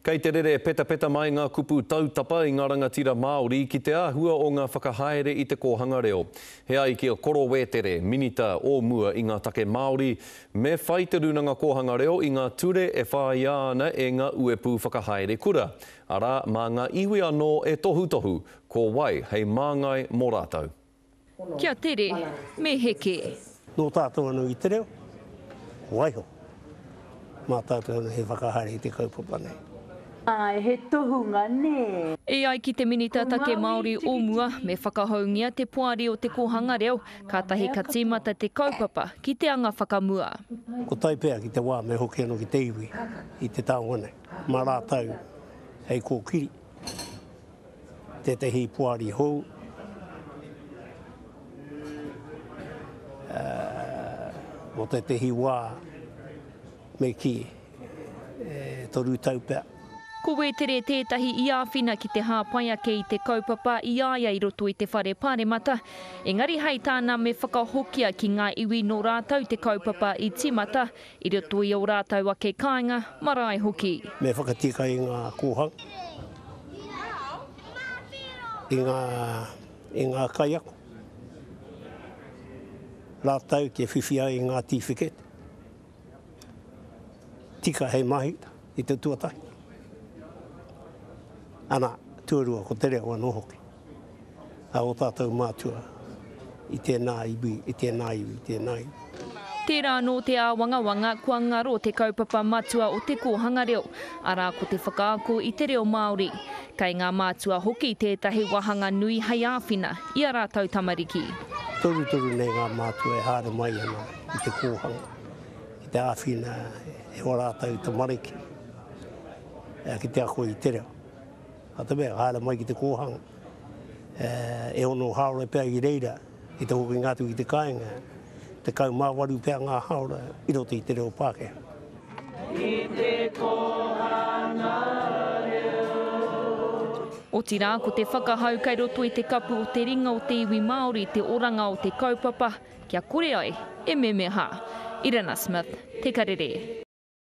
Kei te rere petapeta mai ngā kupu tautapa i ngā rangatira Māori ki te āhua o ngā whakahaere i te kōhanga reo. He ai ki a Koro Wētere, Minita o mua i ngā take Māori, me whai te Rūnanga Kōhanga Reo i ngā ture e whāia ana e ngā uepū whakahaere kura, arā, mā ngā iwi anō e tohutohu ko wai hei māngai mō rātou. Kia tere, me heke. Nō tātou anō i te reo, waiho. Mā tātou anō he whakahaere i te kaupapa nei. Āe, he tohunga, nē. E ai ki te Minita Take Māori o mua, me whakahoungia te poari o te kōhanga reo, kātahi ka tīmata te kaupapa ki te anga whakamua. Ko tai pea ki te wā me hoki anō ki te iwi i te taonga nei, mā rātou hei kōkiri. tētehi poari hou, mō tētehi wā me kī, e toru tau pea. Ko Wētere tētahi i āwhina ki te hāpai ake i te kaupapa i a ia i roto i te Whare Pāremata, engari hei tāna me whakahokia ki ngā iwi nō rātou te kaupapa i tīmata I roto i ō rātou ake kāinga, marae hoki. Me whakatika i ngā kōhanga, i ngā, i ngā kaiako, rātou te whiwhia i ngā tīwhikete tika hei mahi i te tuatahi. Ana, tuarua ko te reo anō hoki. a ō tātou mātua i tēnā iwi, i tēnā iwi, i tēnā iwi. Tērā anō te āwangawanga kua ngaro te kaupapa matua o te kōhanga reo, arā ko te whakaako i te reo Māori. Kei ngā mātua hoki tētahi wāhanga nui hei āwhina i a rātou tamariki. Torutoru nei ngā mātua e haere mai ana i te kōhanga, ki te āwhina e ō rātou tamariki ki te ako i te reo. Nā te mea, haere mai ki te kōhanga, e ono haora pea i reira ki te hokinga atu ki te kāinga, tekau mā waru pea ngā haora i roto i te reo Pākehā. I te kōhanga reo. Otirā, ko te whakahau kei roto i te kapu o te ringa o te iwi Māori te oranga o te kaupapa kia kore ai e memeha. Irena Smith, Te Karere.